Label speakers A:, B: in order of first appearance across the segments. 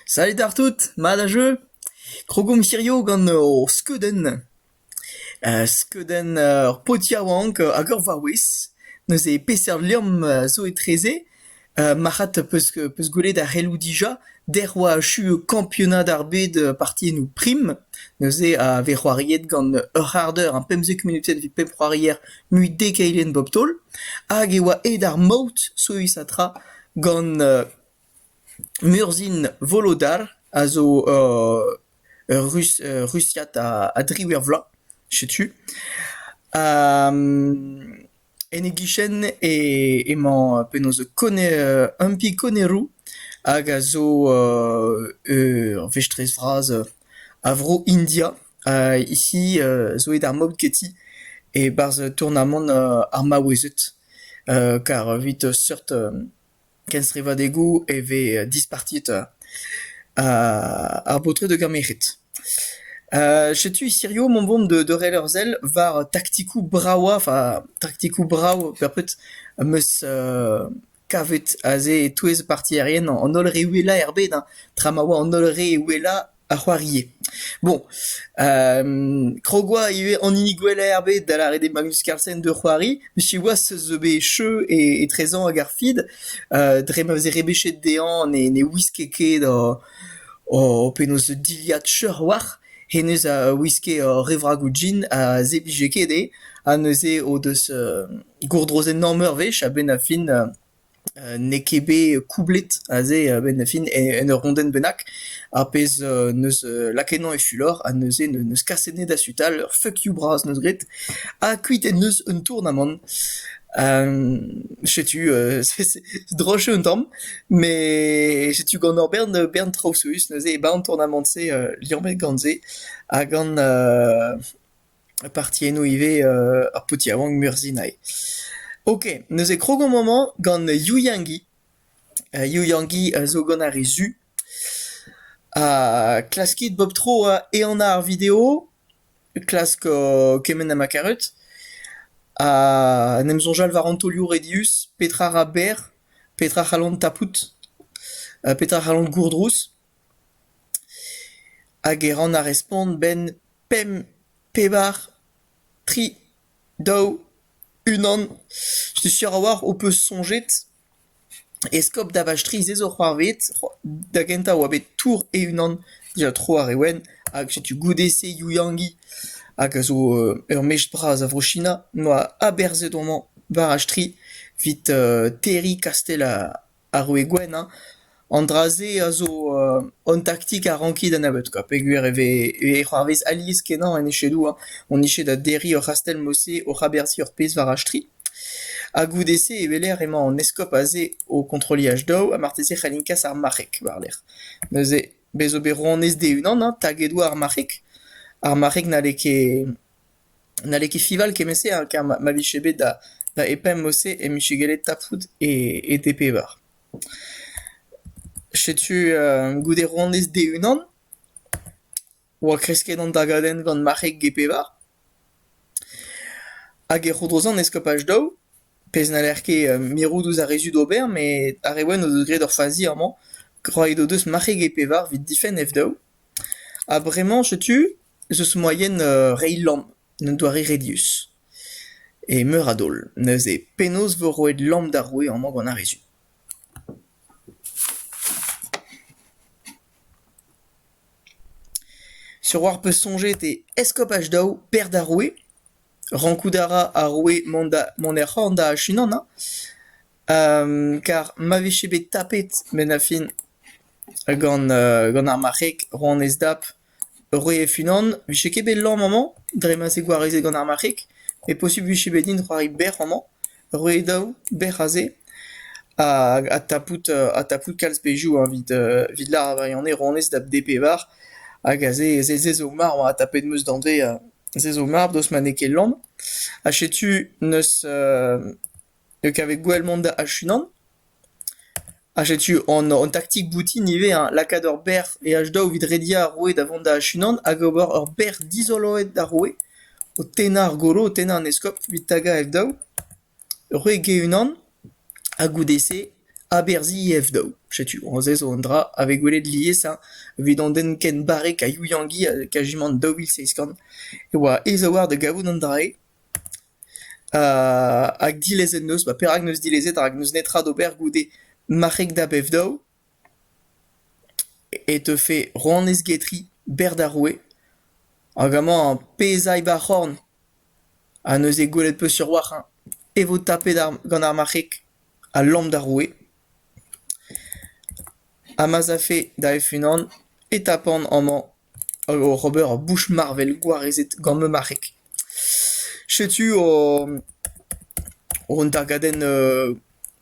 A: Salut àr tout, mat ha jeu ? Krogomp hirio gant hor skeudenn. skeudenn ur paotr yaouank hag ur vaouez. Neuze peseurt liamm zo etreze ? marc'had 'peus peus gwelet ar c'heloù dija ? dec'h 'oa achu kampionad ar bed partiennoù prim. Neuze a vez c'hoariet gant ur c'hard eur ha pemzek munutenn evit pep c'hoarier mui dek eilenn bep taol. Hag e oa aet ar maout, souezh ha tra. Gant Murzhin Volodar a zo Rusiad a driwec'h vloaz, setu. En e gichen emañ penaos Humpy Connerow hag a zo ur vestrez vras a vro India. Hi zo aet ar mab ganti e-barzh tournamant ar maouezed kar evit seurt kenstrivadegoù e vez dispartiet ar baotred hag ar merc'hed. Setu hiziv emaomp o vont da reiñ ur sell war taktikoù brav, enfin taktikoù brav, per pred am eus Kavet aze e-touez partierien an holl re uhelañ er bed, hein, tra ma oa an holl re uhelañ a c'hoarie. Bon, krog 'oa ivez an hini gwellañ er bed da lâret eo Magnus Carlsen da c'hoari, met siwazh ez eus bet echeù e etrezañ ag ar feed dre ma veze rebechet dezhañ ne ne wiske ket o o penaos dilhad cheuc'h war. Hennezh a wiske ur revragoù gin a zeblije ket dezhe ha neuze o deus gourdroz enorm eurvezh a-benn ar fin n'eo ket bet koublet aze a-benn ar fin en ur rondenn bennak, ar pezh 'neus lakaet emañ e fulor ha neuze neus kaset enne da sutal ur fuck you bras 'neus graet ha kuit en deus un tournamant. setu droch eo un tamm met setu gant hor bern bern traoù souezhus neuze e 'ba an tournamant-se liammet gant se ha gant parti enno ivez ar paotr yaouank Murzhinae. Ok, neuze krog on amañ gant Yu Yang-gi. Yu Yang-gi a zo gant ar re zu. Ha klaskit bep tro ehanañ ar video, klask kement ha ma karot. Ha en em soñjal war an taolioù redius, petra ra berr, petra c'hallont tapout, petra c'hallont gourdrouz. hag e ran ar respont 'benn pemp, pevar, tri, daou, unan. Setu sur a-walc'h ho peus soñjet eskob Davaz Strizh ez eo c'hoarvezet da gentañ e oa bet tour e-unan dija tro ar re wenn hag setu goude-se Youyangi hag a zo ur mestr bras a Vro-China 'noa aberzhet homañ war ar stri 'vit terriñ kastell ar roue gwenn hein. An dra-se a zo hon taktik a ranki da nebeut koa peogwir e vez e c'hoarvez alies-kenañ en echedoù hein. Hon eche da derriñ ur c'hastell-mose oc'h aberzhiñ ur pezh war achtri. Ha goude-se e weler emañ an eskob aze o kontrolliñ daou ha marteze c'hellint kas ar marc'heg war-lerc'h. Neuze bez' zo bet rouanez d-e-unan hein taget 'oa ar marc'heg. Ar marc'heg n'halle ket N'halle ket Fival kement-se ha kar ma vije bet da epemp-se emichegellet tapout e d-pevar. Setu goude honnezh de-unan oa kresket an dagadenn gant marc'heg ge-pevar hag e c'hourdroze an eskopaj daou, pezh n'haller ket mirout ouzh ar re zud ober met ar re wenn o deus graet ur fazi amañ. Roet o deus marc'heg e-pevar evit difenn F daou. Ha bremañ setu ez eus moaien reiñ lamm d'an doare redius. E meur a daol. Neuze penaos vo roet lamm d'ar roue amañ gant ar re zu? Sur 'oar peus soñjet e eskopaj daou, pêr d'ar roue? Rankout a ra ar roue mont da mont er c'horn da achunan hein, kar ma vije bet tapet benn ar fin gant gant ar marc'heg rouanez Dap roue Funan, vije ket bet lamm amañ dre ma 'z eo gwarezet gant ar marc'heg, met posupl 'vije bet din c'hoari bec'h amañ. roe daou bec'h aze ha tapout ha tapout kalz pezhioù evit evit lâret gwirionez honnezh da d-pevar hag aze se zo marv ha tapet 'm eus danvez se zo mard daoust ma n'eo ket lann ha setu neus kavet gwell mont da achunan Ha setu an taktik boutin ivez, hein, lakaat ur berv e H-Dow evit rediañ ar roue da vont da-unan hag ober ur berr dizoloet d'ar roue, o tennañ ar golo, o tennañ an eskob evit tagañ F-Dow, roue Gay-Unan, ha goude-se aberzhiñ F-Dow. Setu aze zo un dra a vez gwelet lies hein, evit an den ken barrek ha youiangi ha kajimant daou vil seizh kant e oa aes a-walc'h da gavout an dra-se. Hag dilezet 'neus ba perak 'neus dilezet rak 'neus netra d'ober goude marc'heg da bev-daou e teufe ronez getri berr d'ar roue hag amañ pezh ay ba c'horn ha neuze gwelet 'peus sur-walc'h eñ e vo tapet gant ar marc'heg ha lamm d'ar roue ha ma'z afe da F-unan e tapan amañ hag oc'h ober ur bouch marvel gwarezet gant ma marc'heg. Setu o- un dargadenn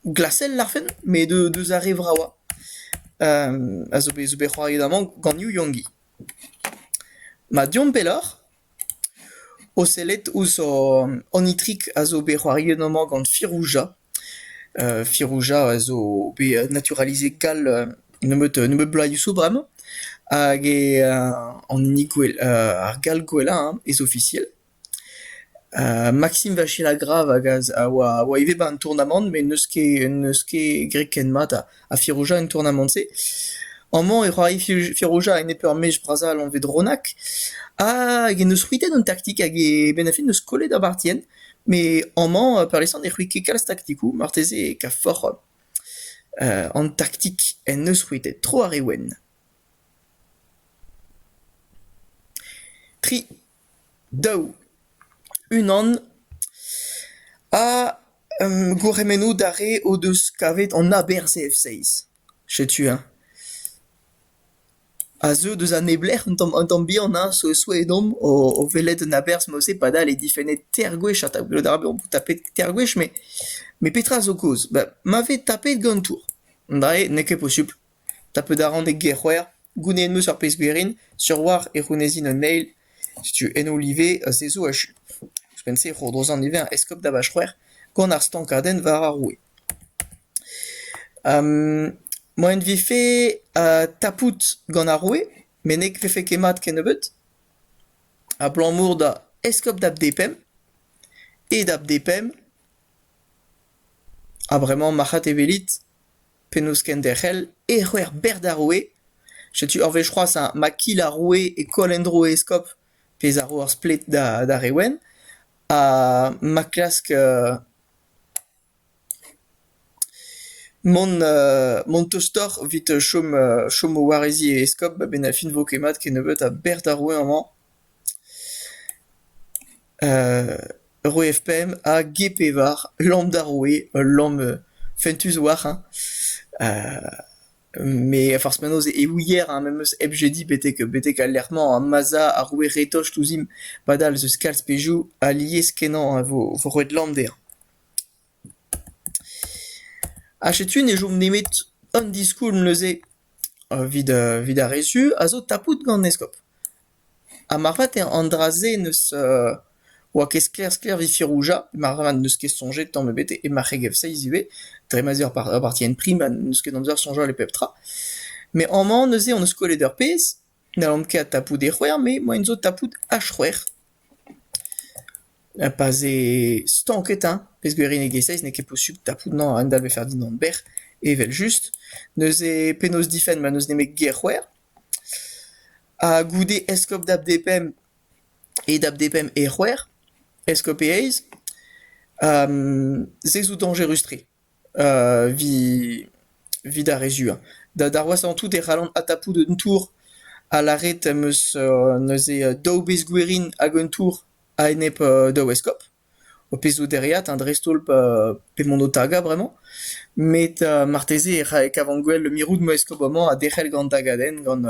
A: glasel larfen met eu- deus ar re vravañ a zo bet- zo bet c'hoariet amañ gant Yu Yong-gi. Ma deomp pelloc'h. O sellet ouzh an itrik a zo bet c'hoariet amañ gant Firouja. Firouja a zo bet naturalisée gall nebeut nebeut bloaziou bremañ hag eo an hini ar gall gwellañ hein, ez-ofisiel. Maxime Vachelagrave hag a oa ivez 'ba an tournamant met n'eus ket n'eus ket graet ken mat ha. ha Firouzja en tournamant-se. Amañ e rae Firouzja a enep ur mech bras-all anvet Ronak, hag en deus c'hwitet an taktik hag e benn a-fin eus kollet Abartien. Met amañ peurliesan e c'hwi ket kalz taktikoù, marteze e kaf forc'h an taktik en deus c'hwitet tro ar re wenn. Tri. daou, unan ha gourc'hemennoù d'ar re o deus kavet an aberzh F-seiz. Setu-eñ. A zeu deus an neblec'h un tamm un tamm bihan hein, souezh-souezh-domp o o welet un aberzh mod-se padal eo difennet teir gwech ha gwelout a ra bezañ tapet teir gwech met met petra zo kaoz? Ma vez tapet gantour, drae n'eo ket posupl. Tapet a ran e gêr-c'hwec'h. Gounezet 'm eus ar pezh gwerin sur 'oar e c'hounezin un eil, setu ennoul ivez ha se zo achu. Ouzhpenn-se e c'hourdosan ivez an eskob da Vachc'hwec'h gant ar stankadenn war ar roue. moaien 'vefe tapout gant ar roue met ne vefe ket mat kennebeut, abalamour da eskob da bDepemp e da bDepemp, ha bremañ marc'had e welit. penaos kenderc'hel, e c'hwec'h bec'h d'ar roue. Setu ur wech c'hoazh ha ma kil ar roue e koll en-dro e eskob, pezh a ro ur splet d'ar re wenn. Ha ma klask mont mont tostoc'h evit chom chom o wareziñ e eskob a-benn ar fin 'vo ket mat kennebeut ha bec'h d'ar roue amañ. Roue F-pemp ha G-pevar, lamm d'ar roue, ul lamm fentus war eñ. Met forzh penaos e ouier eñ memes hep jediñ betek betek al lec'h-mañ ha ma'z a ar roue retocht ouzhimp padal eus kalz pezhioù alies-kenañ e vo roet lamm dezhañ. Ha setu ne chom nemet un diskoulm neuze evit evit ar re zu a zo tapout gant eskob. Ha moarvat eo an dra-se n'eus oa ket sklaer-sklaer evit Ferrugia, moarvat n'eus ket soñjet tamm ebet e marc'hegezh Feiz ivez, dre ma 'z eo ur partien prim ha n'eus ket amzer soñjal e pep tra. Met amañ neuze hon eus kollet ur pezh, n'hallan ket tapout e c'hwec'h eur, moain zo tapout ha c'hwec'h. Pa 'z eo stanket hein, pezh gwirionegezh Feiz n'eo ket posubl tapout nann a-hend-all 'vefe ar dindan berr, evel-just. Neuze penaos difenn ma n'eus nemet ger c'hwec'h. Ha goude eskob da bdpemp e da bdpemp e c'hwec'h, eskob e eizh, se zo dañjerus-tre evit evit ar re zuañ. Da d'ar wazh en tout e c'hallan adtapout un tour ha lâret em eus neuze daou bezh gwerin hag un tour a-enep daou eskob. Ho pezh 'zo dereat hein dreist-holl pa pe mont ho tagañ bremañ, met marteze e rae kavan-gwell le mirout ma eskob amañ ha derc'hel gant an tagadenn gant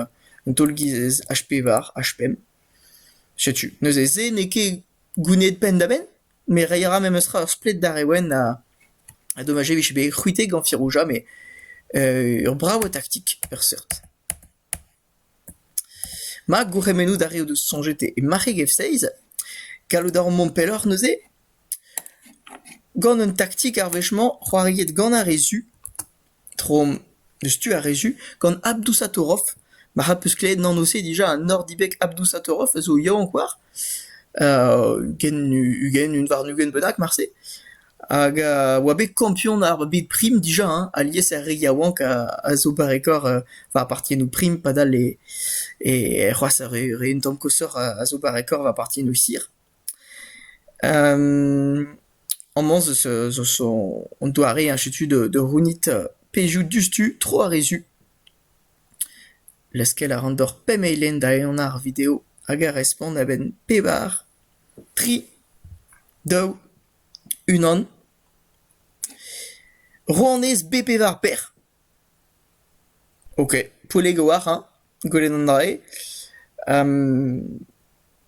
A: an taol-giz H pevar, H pemp. Setu, neuze se n'eo ket gounid penn-da-benn, met reiñ a ra memestra ur splet d'ar re wenn ha ha dommaj e vije bet c'hwitet gant Firouja, met ur brav taktik, per seurt. Ma gourc'hemennoù d'ar re o deus soñjet e marc'heg F-seiz, gallout a ran mont pelloc'h neuze gant un taktik ar wech-mañ c'hoariet gant ar re zu, tro deus tu ar re zu, gant Abdousatorov. Marc'h az peus klevet an anv-se dija, Nordibek Abdousatorov a zo yaouank war. ugent ugent un warn-ugent bennak marse hag a oa bet kampion ar bed prim dija hein alies er re yaouank a zo barrekoc'h war partiennoù prim padal e e c'hoazh ar re re un tamm koshoc'h a zo barrekoc'h war partiennoù sir amañ zo zo zo an doare ainsi de suite de rounit pezhioù diouzhtu tro ar re zu Laskel a ran deoc'h pemp eilenn da enañ ar video hag a respont a-benn pevar, tri, daou, unan. Rouanez B pevar per. Ok, Poellego a ra, gwelet an dra-se.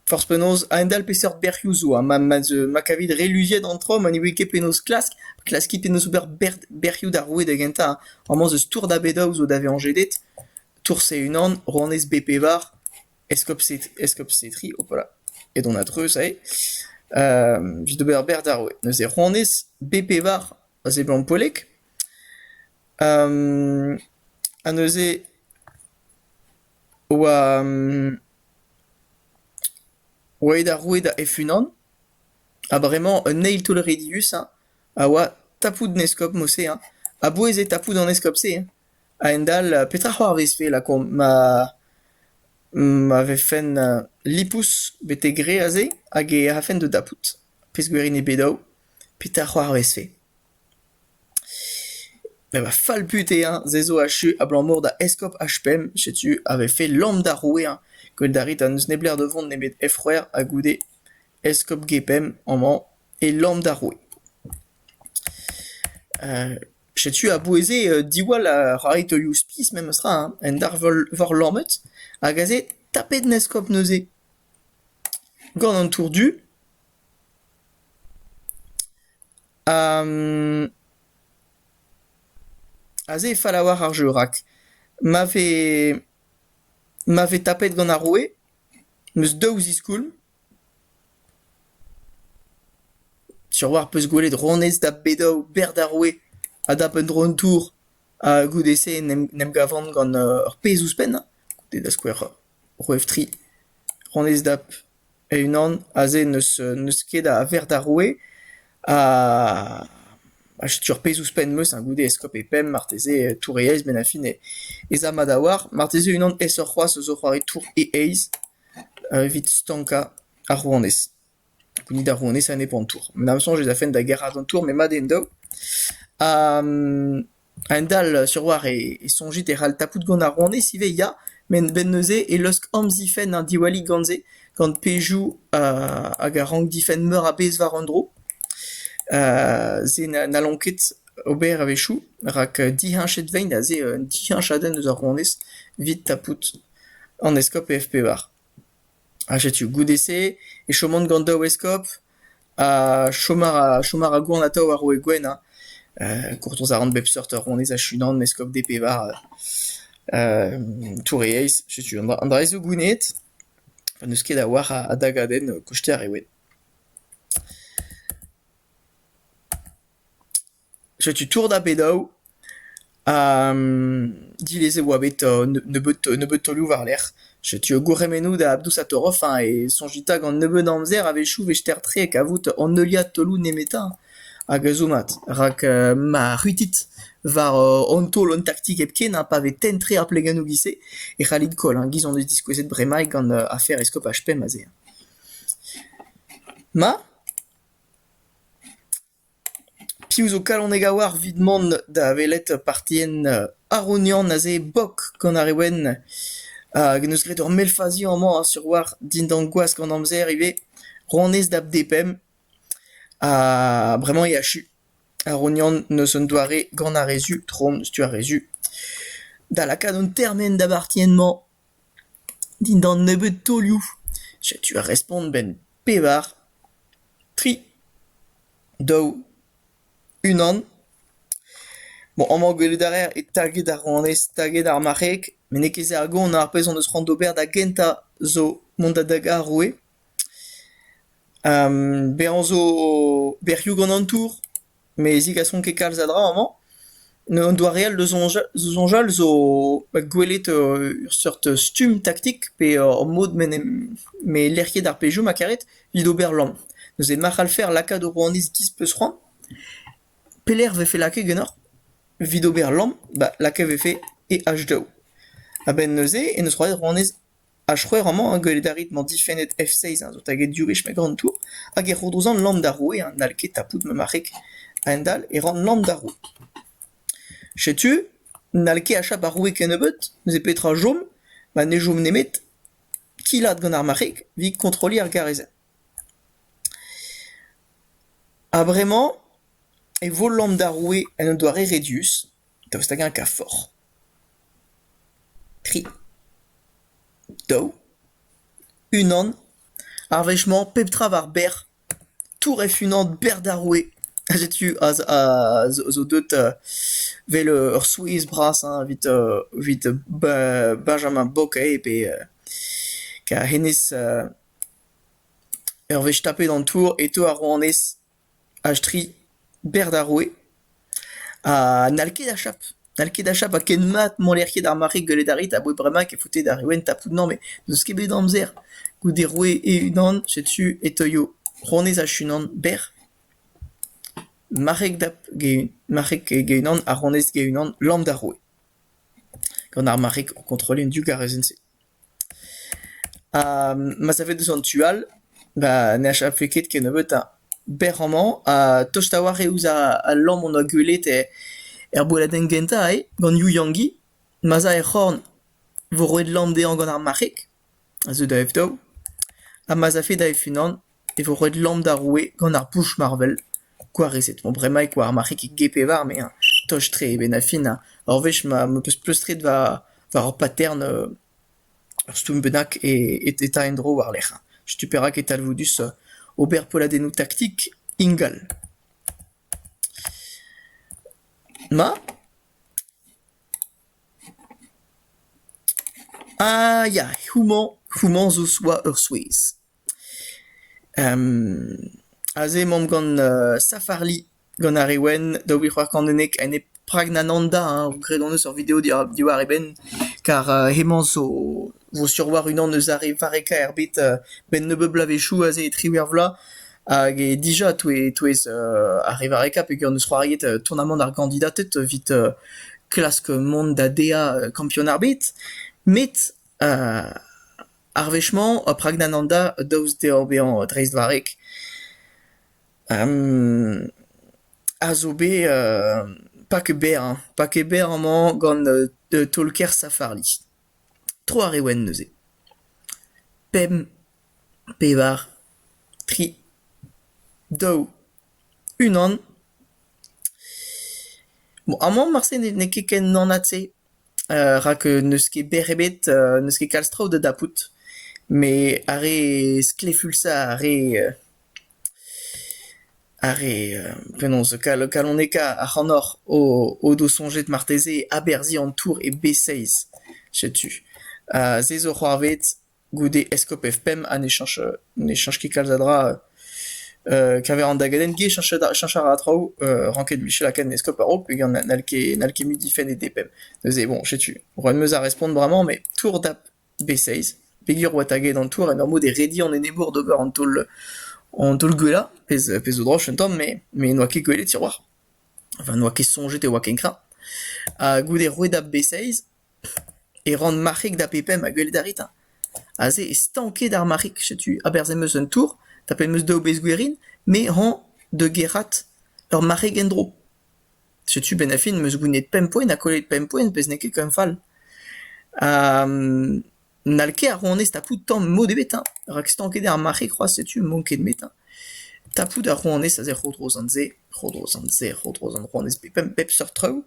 A: Forzh penaos, a-hend-all peseurt bec'hioù zo ha ma ma kavit re luziet an traoù ma ne ouie ket penaos klask, klaskit penaos ober bec'hioù d'ar roue da gentañ. Amañ zo stourm da bedaoù zo da vezañ jedet, tourse unan, rouanez B pevar, eskopse-tri, hopala, edon a-dreuz aze. Evit ober ur bec'h d'ar roue. Neuze rouanez B pevar a seblant poellek. ha neuze oa... Oaet ar roue da e-unan, ha bremañ un eil toull rediusañ a oa tapout an eskob Mose hein, a-bouez eo tapout an eskob-se hein, a-hend-all petra c'hoarvezfe lakaomp ma ma vefen lipous betek re aze hag e rafen da dapout, pezh gwir int bet daou, petra c'hoarvezfe. Met va fallbut eo eñ, se zo achu abalamour da eskob H-5, setu a vefe lamm d'ar roue-eñ gwelet a rit ha n'eus neblec'h da vont nemet Hec'hwec'h ha goude eskob G-5 amañ e lamm d'ar roue. Setu a-bouez-se diwall ar c'harritoioù-spis memestra hein, un darvor lammet hag aze tapet an eskob neuze gant an tour du. Aze e fell a-walc'h ar jeu rak ma vez ma vez tapet gant ar roue 'm eus daou ziskoulm. Sur-walc'h 'peus gwelet ronez da bedaou berr d'ar roue ha dap un dro an tour ha goude-se 'n em gavan gant ur pezh ouzhpenn goude da skouer Roeftri, rann-ez Dap, e-unan, aze n'eus ket a verc'h d'ar roue, ha setu ar pezh ouzhpenn 'm eus goude eskob e Pemp marteze touriez benn-ar-fin ez a mat a-walc'h. Marteze unan aesoc'h c'hoazh zo c'hoari tour e-eizh evit stankañ ar rouanez. Ni da rouanesa nep an tour. N'am soñj ez afen da gerc'hat an tour, met mat eo en-daou. Ha a-hend-all sur war e soñjit e c'hall tapout gant ar rouanez ivez, ya. Met a-benn neuze e lusk amzifenn an diwallig gant se, gant pezhioù hag a rank difenn meur a bezh war un dro. se n'hallont ket ober a-wechoù, rak diheñchet veint aze un diheñchadenn eus ar rouanez evit tapout an eskob e F-pevar. Ha setu goude-se e choman gant daou eskob ha chom a ra chom a ra goan atav ar roue Gwenn hein gourtoz a ran bep seurt honnezh hag unan eskob d' e pevar touriezh setu an dra an dra-se zo gouneet pa n' eus ket a oar a dagadenn kosteer eo eo. Setu tour da Bennoù, ha dilez e oa bet nebeut taolioù war-lerc'h. Setu gourc'hemennoù da Abdoussatoroff hein, e soñjita gant nebeut amzer a-wechoù 'vester-tre kavout an heuliad taolioù nemetañ hag a zo mat. Rak ma c'huitit war an taol an taktik hepken hein, pa vez tenn-tre ar plegennoù giz-se e c'hallit koll hein, giz hon eus diskouezet bremaik gant afer eskopaj Pemp aze. Ma? Piv zo kalonek a-walc'h evit mont da welet partien Arognan aze bok gant ar re wenn hag en deus graet ur mell faziañ amañ sur war dindan gwask an amzer ivez ronez da bDepemp ha bremañ e achu. Arognan n'eus un doare gant ar re zu trom stuh ar re zu da lakaat an termen da bartien-mañ. Dindan nebeud taolioù, setu ar respont 'benn pevar, tri, daou, unan. Bon, amañ gwelout a raer eo taget ar rouanez, taget ar marc'heg, met n'eo ket se ar gont, ar pezh hon eus c'hoant d'ober da gentañ zo mont da dagañ ar roue. Bezañ zo bec'hioù gant an tour. Met zigasont ket kalz a dra amañ. Un doareal da soñjal zo gwelet ur seurt stumm taktik pe ur mod m'en em m'eo lec'hiet ar pezhioù ma karet evit ober lamm. Neuze ma c'hallfe ar lakaat o rouanez giz peus c'hoant. Pelec'h 'vefe lakaet ganeoc'h evit ober lamm? Bah lakaet 'vefe e H2O. A-benn neuze e 'neus roet rouanez Ar c'hwec'h amañ a gwelet a rit mañ difennet F-seizh a zo taget div wech meg an Tour hag e ro dozh an lamm d'ar roue ha n'hall ket tapout ma marc'heg. A-hend-all e ran lamm d'ar roue. Setu, n'hall ket achap ar roue kennebeut, neuze petra 'chom? Ma ne chom nemet kilaat gant ar marc'heg evit kontrolliñ ar garezenn. Ha bremañ e vo lamm d'ar roue en un doare redius, daoust hag-eñ kaforc'h. Tri, daou, unan, ar wech-mañ pep tra war berr, touref unan berr d'ar roue. Ha setu aze a zo deut vel ur souezh bras hañ evit evit ba- Benjamin Bocquet pe ka hennezh ur wech tapet an tour e teu ar rouanez. Aze-tre, berr d'ar roue, ha n'hall ket achap. N'hall ket achap ha ken mat m'haller ket ar mare gwelet a rit aboe bremañ kefaotet ar Youenn tapout-mañ met n'eus ket bet amzer. Goude roue e-unan, setu e teuio honnezh hec'h-unan berr, marc'heg dap- ge- marc'heg ge-unan ha honnezh ge-unan lamm d'ar roue. Gant ar marc'heg o kontrolliñ an div garezenn-se. Ma savet deus an tu all ba ne achaffe ket kennebeutañ berr amañ ha tost a-walc'h eo ouzh al lamm hon oa gwelet er bodadenn gentañ eo gant Yu Yangi. Ma'z a er c'horn vo roet lamm dezhañ gant ar marc'heg a zeu da F daou ha ma'z afe da F unan. e vo roet lamm d'ar roue gant ar pouch-marvel. Gwarezet 'vo bremañ e koar ar marc'heg gepe warne hein, tost-tre e benn-ha-fin hein. Ur wech ma am eus pleustret war war ur patern ur stumm bennak e e e ta en-dro war-lerc'h hein. Setu perak e talvoudus ober polladennoù taktik ingal. Ma? Ah ya, houmañ houmañ zo 'oa ur souezh. Aze emaomp gant Safari, gant ar re wenn, daou vil c'hwec'h kant unnek, ha ne Pragnananda hein, graet hon eus ur video diwar e benn, kar hemañ zo vo sur war unan eus ar re varrekañ er bed, benn nebeut bloavezhioù aze e triwec'h vloaz, hag eo dija touez ar re varrekañ peogwir hon eus c'hoariet tournamant ar gandidated evit klask mont da dezhañ kampionn ar bed, met Ar wech-mañ eo Pragnan an da daoust dezhañ bezañ dreistvarrek a zo bet pas ket berr, pas ket berr amañ gant taol-kêr Safari. Tro ar re wenn neuze. Pemp, pevar, tri, daou, unan. Bon, amañ marse n'eo ket ken anat-se. rak n'eus ket berr ebet, n'eus ket kalz traoù da dapout, met ar re sklefulsañ, ar re ar re penaos kalonekañ ac'hanoc'h o do soñjet marteze aberzhiñ an tour e B6, setu. se zo c'hoarvezh. goude eskob F5 ha ne chañch ne chañch ket kalz a dra keñver an dagadenn-gi e chañch chañch a ra traoù ranket Michel Aken eskob a-raok peogwir n'hall ket n'hall ket mui difenn e DPM neuze bon setu roet 'm eus ar respont bremañ met tour dap B6 peogwir oa taget an tour en ur mod e redi an enebour d'ober an taol an taol gwellañ pezh pezh zo droch un tamm mais mais n'oa ket gwelet tiroir enfin n'oa ket soñjet e oa ken kreñv ha goude roet dap B6 E ran marc'hig da pe-pemp a gwelet a rit eñ. Aze e stanked ar marc'hig. Setu aberzh em eus un tour, tapet em eus daou bezh gwerin, me hañ da gerc'hat ur marc'heg en-dro. Setu benn-ha-fin em eus gounid pemp poent ha kollet pemp poent pezh n'eo ket ken fall. Ha n'hall ket ar rouanez tapout tamm mod ebet eñ, rak stanket eo ar marc'hig c'hoazh, setu m'on ket met eñ. Tapout ar rouanez aze tro-dro sant-se, tro-dro sant-se, tro-dro sant rouanez, pe pemp, pep seurt traoù.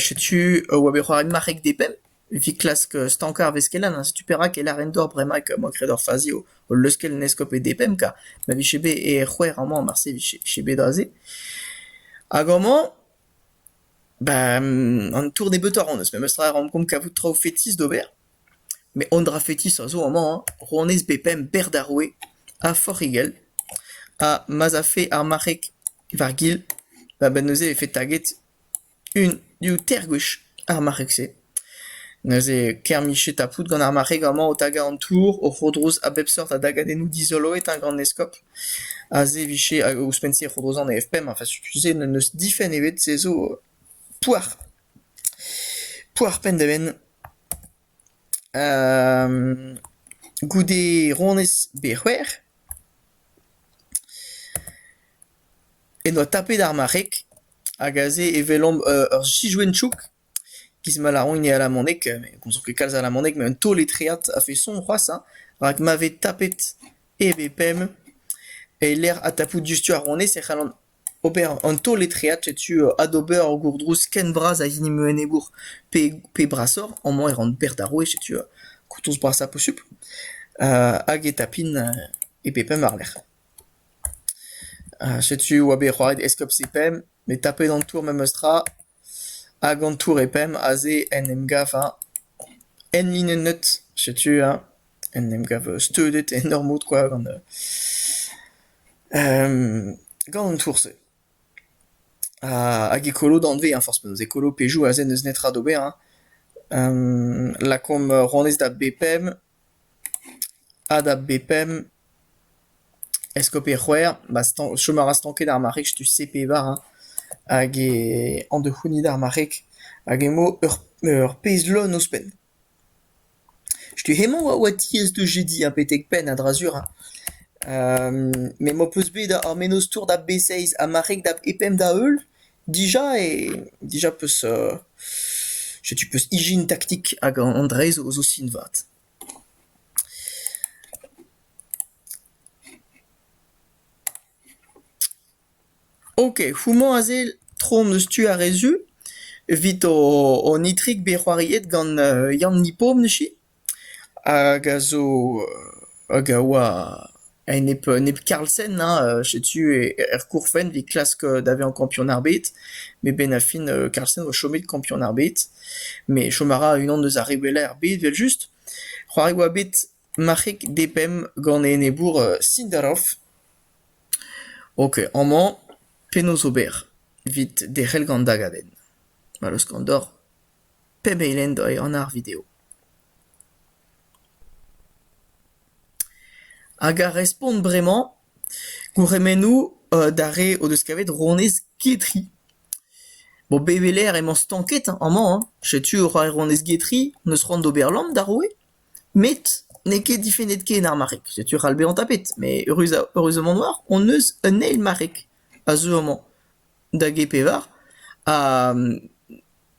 A: Setu oa bet c'hoaret marc'heg d'eben evit klask stankañ ar veskelen ha setu perak e lâren deoc'h bremañ emañ graet ur fazi o leuskel un eskob e d'eben kar ma vije bet e c'hwec'h amañ marse vije bet aze. Hag amañ ben an tour nebeutoc'h on eus memestra e raomp komz kavout traoù fetis d'ober met un dra fetis a zo amañ hañ rouanez bepemp berr d'ar roue ha forc'h he gell ha ma'z afe ar marc'heg War-gil, va benn neuze e vefe taget un diouzh teir gwech ar marc'heg-se. Neuze kermiche tapout gant ar marc'heg amañ o tagañ an tour, o c'hodroz a bep seurt a dagadennoù dizoloet eo gant eskob. Aze e vije, hag ouzhpenn-se e c'hodrozañ an EFP ma tu-se n'eus difenn ebet, se zo poar. Poar penn-da-benn. goude honnezh bet c'hwec'h en doa tapet ar marc'heg hag aze e welomp ur sijoenn-chouk giz ma lâront e alamaneg met ne gomzont ket kalz alamaneg met un taol-etreat a-feson c'hoazh hein rak ma vez tapet e bep pemp e-lec'h adtapout diouzhtu ar honnezh e c'hallan Ober an taol etreat setu adober ur gourdrouz ken bras a hini meu enebour pe pe brasoc'h amañ e ran bec'h d'ar roue setu kourtoz brasañ posupl hag e tapin e pe pemp war-lerc'h. Setu e oa bet c'hoaret eskob Sepem met tapet an tour memes tra. Hag an tour e pemp aze en em gavañ enlinennet. Setu eñ en em gav steudet en ur mod kwa gant gant an tour-se. Hag e kolo danvez forzh penaos, e kolo pezhioù aze n'eus netra d'ober. lakaomp ronez da b pemp. Ha da b-pemp, eskob e c'hwec'h, ma stan- chom a ra stanket ar marreg setu se pevar hein, hag e- an da c'hounit ar marreg hag emañ ur ur pezh lon ouzhpenn. Setu hemañ a oa diaes da jediñ ha betek penn a-dra-sur hein. me 'm boa peus bet ar mennozh-tour da b-seizh ha marreg da b-pemp da heul. Dija eo dija 'peus setu 'peus ijin taktik hag an dra-se zo sin vat. Ok, houmañ aze tro hon eus tu a-re-zu evit hon itrik bet c'hoariet gant Yann Nipom neuse. Hag a zo hag a oa e nep nep karlsenn hein setu er gourfenn 'vit klask da vezañ kampion ar bed met 'benn ar fin karlsenn a oa chomet kampion ar bed met chom a ra unan eus ar re wellañ er bed evel-just. C'hoari oa bet marc'heg depemp gant e enebour Sindarov ok amañ penaos ober 'vit derc'hel gant da gadenn? Mall eus Kandor. Pemp eilhen doa e anv ar video. Hag a respont bremañ gourc'hemennoù d'ar re o deus kavet ronez Getri. Bon, bet e-lec'h emañ stanket amañ hein. Setu e oa ronez Getri, n'eus c'hoant d'ober lamm d'ar roue, met n'eo ket difennet ken ar marc'heg. Setu ral bezañ tapet, met eürus- eürusement oar hon eus un eil marc'heg a zeu amañ da G-Pevar, ha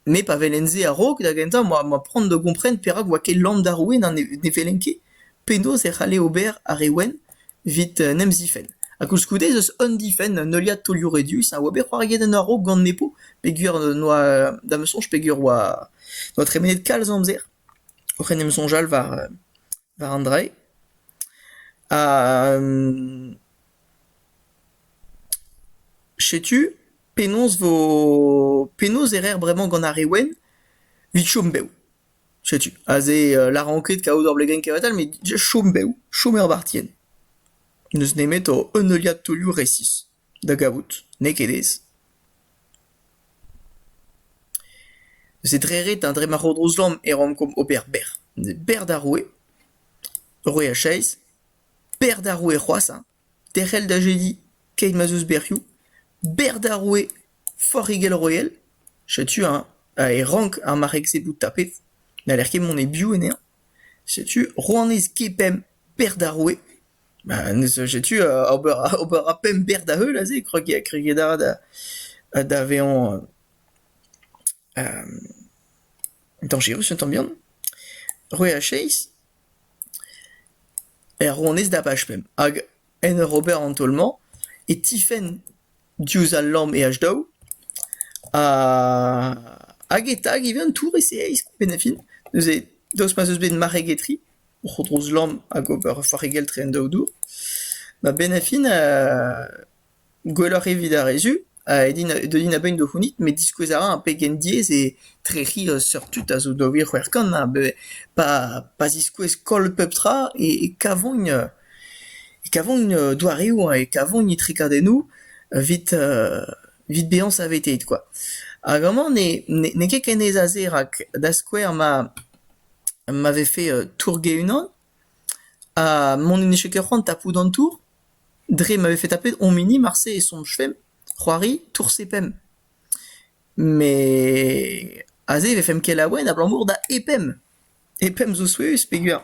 A: Me pa velen-se a-raok, da gentañ, 'moa c'hoant da gompren perak 'oa ket Lann d'Arouin ha ne ne velen ket penaos e c'halle ober ar re wenn evit en em zifenn. Ha koulskoude ez eus un difenn, un heuliad taolioù redus a oa bet c'hoariet en a-raok gant Nepo peogwir noa, da ma soñj peogwir 'oa noa tremenet kalz amzer oc'h en em soñjal war war an drailh. Ha setu. Penaos vo... penaos e rer bremañ gant ar re wenn evit chom bev ? Setu aze lâran ket kaout ur blegenn kevatal met chom bev, chom er bartienn. N'eus nemet un heuliad taolioù resis da gavout, n'eo ket aes. Neuze dre ret dre ma c'hodroz lamm e rankomp ober bec'h. Bec'h d'ar roue, roue a chaez, bec'h d'ar roue c'hoazh hein. Derc'hel da jediñ keit ma'z eus bec'hioù, bec'h d'ar roue Forc'higell-Royal, setu eñ e rank ar marc'heg-se bout tapet, n'haller ket mont e-biou anezhañ, setu rouanez G-Pemp bec'h d'ar roue, ha setu ober a pemp bec'h da-heul aze, kregiñ a ra da vezañ dañjerus un tamm bihan, c'hwec'h ha seizh, er rouanez davaj pemp, hag en ur ober an taol-mañ e tifenn diouzh al lamm e H daou, hag e-tag ivez an tour e seizh e fin, neuze daoust ma'z eus bet marc'heg etre, o c'hodroz lamm hag ober farregell-tre en daou dour, ma benn a fin Gwelloc'h evit ar re-zu a deuin a-benn da c'hounit met diskouez a ra pegen diaes eo trec'hiñ seurt tud a zo daou vil c'hwec'h kant a-benn pa ziskouez koll pep tra e kavont e kavont doareoù e kavont trekadennoù evit bezañ saveteet kwa. Hag amañ n'eo ket ken aes a se rak da skouer ma vefe tour-ge unan Ha mont en eche ket c'hoant tapout an tour dre ma vefe tapet hom hini marse e soñjfemp c'hoari tourse pemp. Met aze e vefemp kelaouenn abalamour da E pemp. E pemp zo souezhus peogwir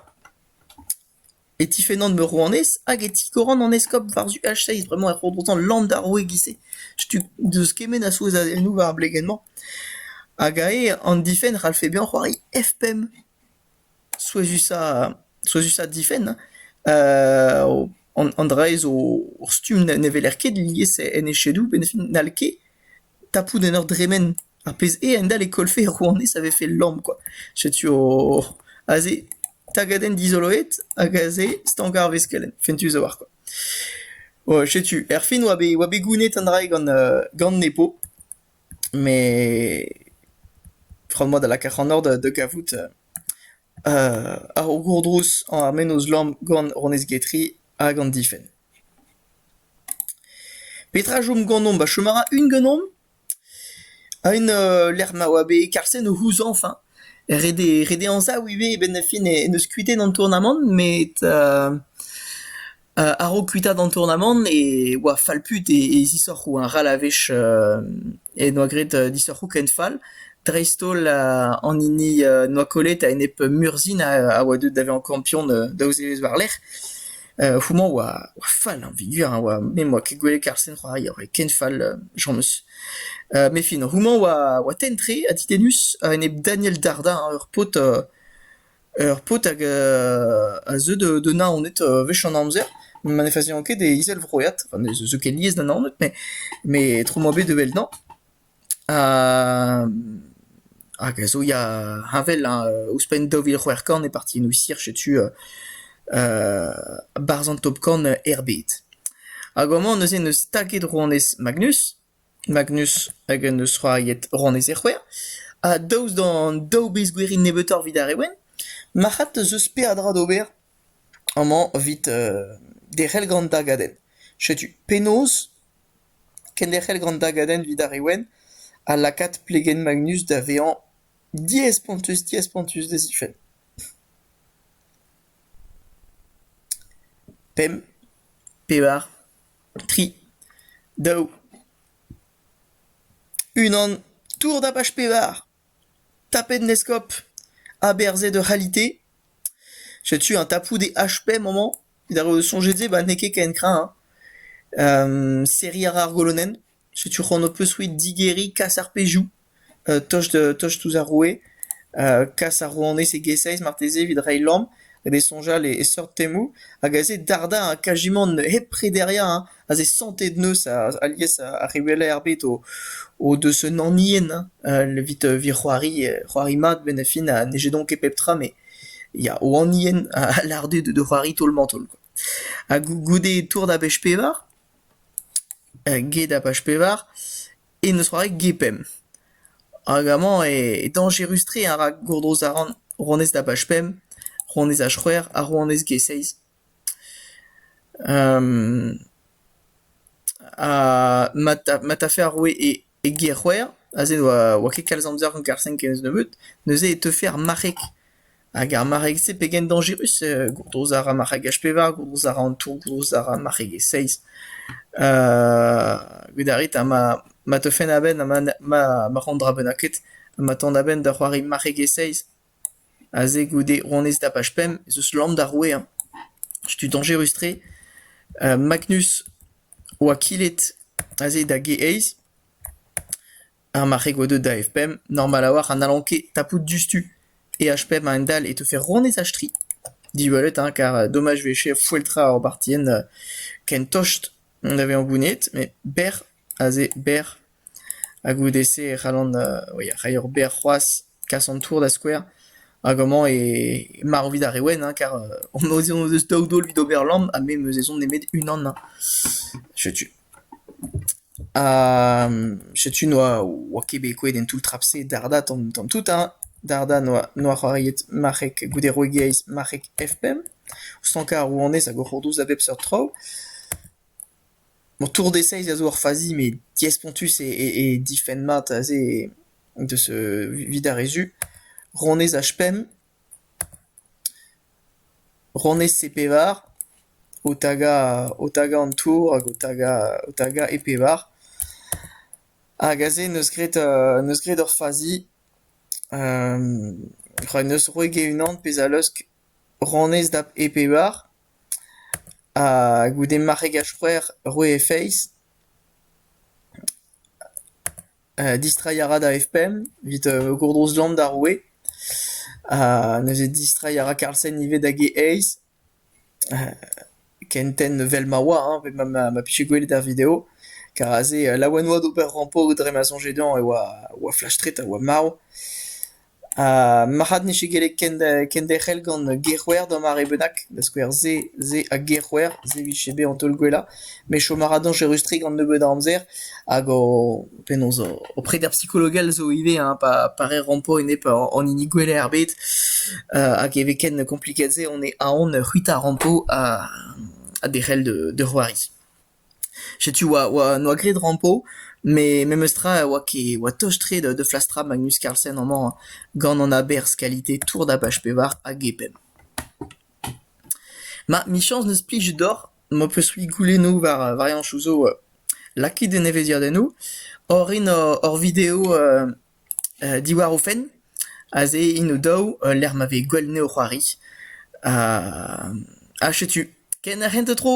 A: e tifennan meur rouanez hag e tikoran an eskob war-zu H6. Bremañ e ro dezhañ land ar roue e-giz-se. Setu deus kement a souezhadennoù war ar blegenn-mañ. Hag aze an difenn 'c'hallfe bezañ c'hoari F pemp. Souezhusañ souezhusañ difenn an dra-se zo ur stumm ne weler ket lies en echedoù met n'hall ket tapout en ur dremen ar pezh eo a-hend-all e kollfe rouanez a vefe lamm kwa. Setu aze tagadenn dizoloet hag aze stank ar veskelenn, fentus a-walc'h kwa. Setu, erfin oa bet oa bet gounet an dra-se gant gant nepo. Met fromet a lak ac'hanoc'h da kavout ar gourdrouz, ar mennozh lamm gant honnezh getri hag an difenn. Petra a chom ganeomp a chom a ra un ganeomp un lec'h ma oa bet Karlsen o c'houzañv enfin. Ret eo ret eo anzav ivez e-benn fin en deus kuitaet an tournamant met A-raok kuitaat an tournamant e oa fallput e zisoc'hoù arall a-wech en doa graet disoc'hoù ken fall, dreist-holl an hini noa kollet a-enep Murzhin a oa deuet da vezañ kampion daou zevezh war-lerc'h. Houmañ oa fall a vigor a oa me 'm boa ket gwelet karr-sen c'hoari, a oa ken fall james. Met fin houmañ oa tenn-tre ha ditennus a-enep Daniel Dardin ur paotr Ur paotr hag a zeu da Naoned wech an amzer ma ne faziañ ket e izelvroiad, zo ket lies da Naoned met tro 'moa bet da wel'nañ hag a zo ya heñvel hañ ouzhpenn daou vil c'hwec'h kant e partiennoù Isir setu barzh an top kant er bed. Hag amañ neuze 'neus staget rouanez Magnus. Magnus hag en deus c'hoariet honnezh e c'hwec'h. Ha daoust d'an daou bezh gwerin nebeutoc'h evit ar re wenn, marc'had 'teus eus peadra d'ober amañ evit derc'hel gant da gadenn. Setu penaos kenderc'hel gant da gadenn evit ar re wenn ha lakaat plegenn Magnus da vezañ diaes-spontus diaes-spontus d'e zifenn. Pemp, pevar, tri, daou, unan, tour dapach pevar, tapet 'n eskob, aberzhet ur c'halite. Setu un tapoud e HP mañ-mañ, evit ar re o soñjet se, ba n'eo ket ken kreñv hein. Serriñ a ra ar golonenn. Setu c'hoant ho-peus-c'hwi digeriñ kas ar pezhioù tost tost ouzh ar roue, kas ar rouanez e-giz-se marteze evit reiñ lamm d'e soñjal e seurt temoù hag aze dardañ kajimant hep prederiañ aze santet neuz alies ar rewelañ er bed o deus un anien evit evit c'hoari c'hoari mat benn ar fin ha n'heje don ket pep tra met ya o anien a lâr dezhe de c'hoari taol-mañ-taol quoi. Ha goude tour da bezh pevar? Get ar paj pevar e n'eus c'hoari get pemp hag amañ eo dañjerus-tre a ra gourdoz a ran rouanez da baj pemp, rouanez ar c'hwec'h ha rouanez get seizh. mat a mat afer ar roue eo. E ger-c'hwec'h, aze ne oa ket kalz amzer gant Garsen kemz nebeut, neuze e teufe ar marc'heg. Hag ar marc'heg-se pegen dañjerus gourdoz a ra marc'hegaj pevar, gourdoz a ra an tour, gourdoz a ra marc'hegez seiz. Gwelet a rit ha ma ma teufen a-benn ha ma ma ma ran dra bennaket, ha ma tont a-benn da c'hoari marc'hegez seiz. Aze goude honnezh tapaj pemp ez eus lamm d'ar roueañ. Setu dañjerus-tre. Magnus oa kilet aze da g-eizh ar marc'heg oa deuet da F-pemp. Normal a-walc'h ha n'hallan ket tapout diouzhtu. E-H-pemp a-hend-all e teufe honnezh-h-tri. Diwallit hein, kar domaj 'vefe foeltrañ ur bartienn ken tost da vezañ gounezet met berr. aze berr, ha goude-se e c'hallan rei eur berr c'hoaz, kas an tour da skouer, hag amañ e marv evit ar re wenn hein, kar hon eus daou daol evit ober lamm ha me 'm eus ezhomm nemet unan hein. Setu. Ha setu n'oa oa ket bet kouezhet en toull trap-se Darda tamm tamm tout hein. Darda n'oa n'oa c'hoariet marc'heg goude Roegiaiz marc'heg F pemp, o stankañ ar rouanez hag o c'hortoz da bep seurt traoù. Mon tour d'essayz a zo ur fazi met diaespontus e difenn mat aze deus evit ar re zu. Ronez H5, ronez C-pevar, o tagañ o tagañ an tour hag o tagañ o tagañ E-pevar. Hag aze neus graet neus graet ur fazi, rak neus roet get unan pezh a leusk ranez da e bevar, ha goude marregaj c'hwec'h roe he feiz, distreiñ a ra da F-pemp evit gourdrouz lamm d'ar roue, ha neuze distreiñ a ra Karlsen ivez da G-eizh, ken tenn evel ma oa, hein, evel ma pije gwelet er video, kar aze laouen oa d'ober rampo dre ma soñje dezhañ e oa flash-tre ha marv. Ha marc'had n'eo ket gellet kenderc'hel gant gerc'hwer d'ur mare bennak, da skouer se, se ha gerc'hwer, se vije bezañ taol-gwellañ. Me chom a ra dañjerus-tre gant nebeut a amzer hag ho penaos ho preder psikologel zo ivez hein, pa pa re rampo enep an hini gwellañ er bed. Hag e vez ken kompliket se on eo aon c'hwitañ rampo ha derc'hel da c'hoari. Setu 'oa 'oa 'noa graet rampo met memestra oa ket oa tost-tre da flastra Magnus Carlsen amañ gant an aberzh kalite tour dabach pevar hag e pemp. Ma michañs n'eus plij deoc'h m'ho peus-c'hwi goulennoù war variañsoù zo lakaet en evezhiadennoù oc'h rin hor video Diwar o fenn aze int o-daou lec'h ma vez gwell anezho c'hoari ha setu ken ar c'hentañ tro.